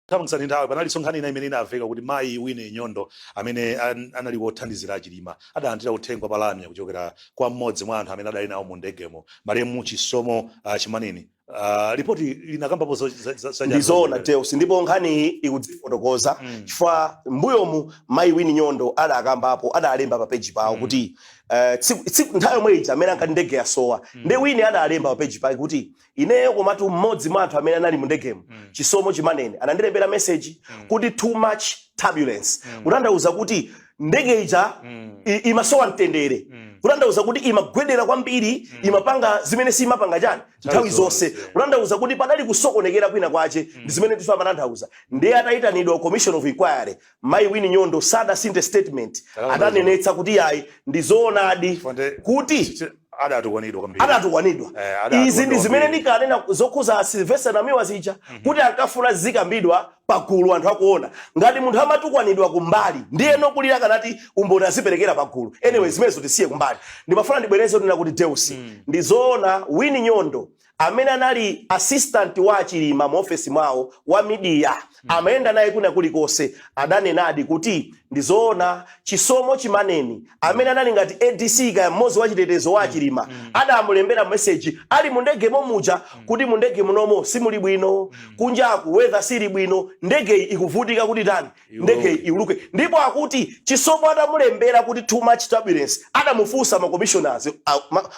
Tamangitsani nthawi palinso nkhani ina imene inaveka kuti mayi Winnie Nyondo amene an- anali wothandizira a Chilima adalandira uthenga pa lamya kuchokera kwa mmodzi mwa anthu amene adali nawo mu ndegemo malemu Chisomo ah, Chimaneni Ah, lipoti linakambapo zo- za- za- za- ndizoona Deus ndipo nkhaniyi ikudzifotokoza Mm. chifukwa mbuyomu mayi Winnie Nyondo adakambapo adalemba pa peji pawo Mm. kuti eh, tsiku- tsiku- nthawi yomwe ija amene ankati ndege yasowa Mm. nde Winnie adalemba pa peji pake kuti ineyo komatu mmodzi mwa anthu amene anali mu ndegemo Mm. Chisomo Chimaneni anandilembera meseji Mm. kuti too much turbulence Mm. kutanthauza kuti ndege ija mm. imasowa mtendere mm. kutanthauza kuti imagwedera kwambiri mm. imapanga zimene simapanga chani nthawi zonse kutanthauza kuti padali kusokonekera kwina kwache mm. ndi zimene tifa amatanthauza ndiye atayitanidwa commission of inquiry mayi Winnie Nyondo sadasinthe statement adanenetsa kuti yayi ndi zoonadi kuti adatukwanidwa kwambiri adatukwanidwa eh, izi ndi zimene ndikanena zokhuza Sylvester Namiwa zija mm -hmm. kuti ankafuna zikambidwa pagulu anthu akuona. Ngati munthu amatukwanidwa kumbali ndiye nokulira akanati umboni aziperekera pagulu. Anyway zimenezo tisiye kumbali. Ndimafuna ndibwereze kunena kuti Deus, ndi zoona Winnie Nyondo amene anali assistant wa a Chilima mu ofesi mwawo wa media amayenda naye kwina kulikonse adanenadi kuti ndi zoona Chisomo Chimaneni amene anali ngati ADC kaya mmodzi wa chitetezo wa a Chilima adamulembera meseji ali mu ndege momuja kuti mu ndege munomo simuli bwino kunjaku weather sili bwino ndegeyi ikuvutika kuti tani ndegeyi iuluke ndipo akuti Chisomo atamulembera kuti too much turbulence adamufunsa makomishonazi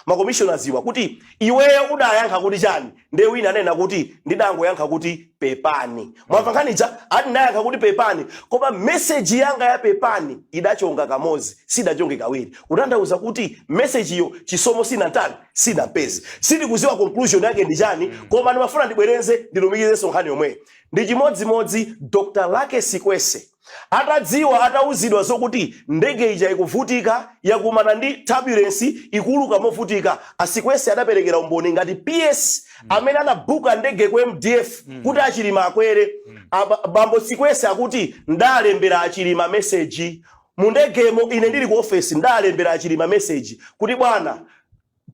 makomishonaziwa kuti iweyo udayankha kuti chani nde Winnie anena kuti ndidangoyankha kuti pepani mwamva nkhani ija ati ndinayankha kuti pepani koma meseji yanga ya pepani idachonga kamodzi sidachonge kawiri kutanthauza kuti mesejiyo Chisomo sinatani sidampeze sindikuziwa conclusion yake ndi chani koma ndimafuna ndibwereze ndilumikizenso nkhani yomweyi ndi chimodzimodzi Dr Luckie Sikwese Atadziwa, atauzidwa zokuti ndege ija ikuvutika, yakumana ndi turbulence, ikuuluka movutika, a Sikwese adaperekera umboni ngati PS amene anabuka ndege ku MDF kuti a Chilima akwere. A ba- bambo Sikwese akuti ndalembera a Chilima message. Mu ndegemo ine ndili ku office ndalembera a Chilima message kuti bwana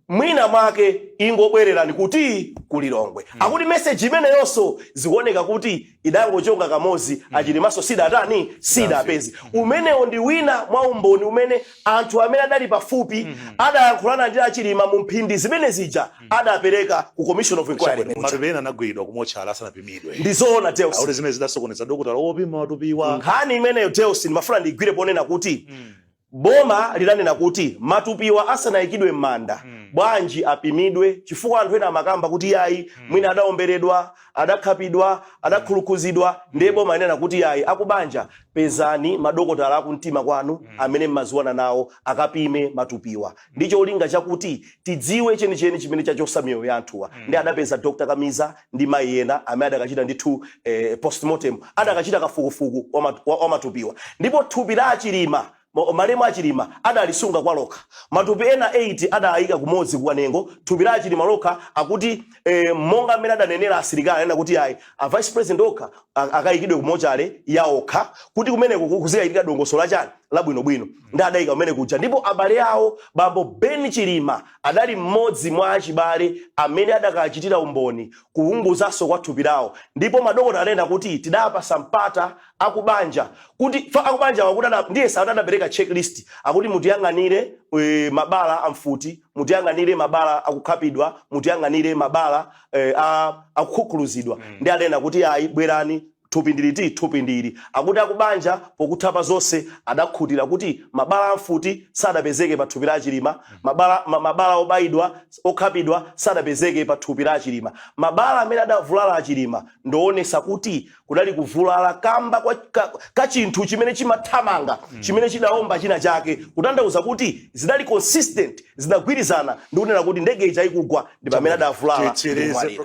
mwina mwake ingobwererani kuti ku Lilongwe mm. akuti meseji imeneyonso zikuoneka kuti idangochonga kamozi mm. a Chilimanso sidatani sidawapeze mm. umenewo ndi wina mwa umboni umene anthu amene adali pafupi mm. adayankhulana ndi a Chilima mu mphindi zimene zija mm. adapereka ku commission of inquiry matupi ena anagwidwa kumotchale asanapimidwe ndi zoona Deus zimene zidasokoneza dokotala wopima matupiwa nkhani imeneyo Deus ndimafuna ndigwire ponena kuti mm. Boma lidanena kuti matupiwa asanaikidwe m'manda, bwanji apimidwe chifukwa anthu ena amakamba kuti yayi mwina adaomberedwa, adakhapidwa, adakhulukhuzidwa ndiye boma linanena kuti yayi akubanja pezani madokotala akumtima kwanu amene mmaziwana nawo akapime matupiwa ndicholinga chakuti tidziwe chenicheni chimene chachosa miyoyo ya anthuwa ndiye adapeza Dr Kamiza ndi mayi ena amene adakachita ndithu eh, postmortem adakachita kafukufuku wa mat- wa- wa matupiwa ndipo thupi la achilima ma- malemu achilima adalisunga kwa lokha matupi ena 8 adayika kumodzi kukanengo thupi la achilima lokha akuti eh, monga mmene adanenera asilikali anena kuti ayi a vice president okha a- akayikidwe kumotchale ya okha kuti kumeneko ku- kuzikachitika dongosolo lake labwinobwino ndi adayika kumene kuja ndipo abale awo bambo ben chilima Adali mmodzi mwa achibale amene adakachitira umboni kuwunguzanso kwa thupi lawo ndipo madokotala adanena kuti tidapasa mpata akubanja kuti akubanjawa kuti ada ndiyesa akuti adapereka checklist akuti mutiyang'anire mabala a mfuti mutiyang'anire mabala akukhapidwa mutiyang'anire mabala a akukhukhuluzidwa ndi adanena kuti ayi bwerani Thupi ndi liti? Thupi ndi ili, akuti akubanja pokutha pa zonse adakhutira kuti mabala a mfuti sadapezeke pa thupi la a Chilima, mabala ma mabala obaidwa, okhapidwa sadapezeke pa thupi la a Chilima. Mabala amene adavulala a Chilima ndi oonesa kuti kudali kuvulala kamba kwa ka ka chinthu chimene chimathamanga chimene chidaomba china chake kutanthauza kuti zidali consistent zidagwirizana ndi kunena kuti ndege ija ikugwa ndi pamene adavulala ndi kumwalira.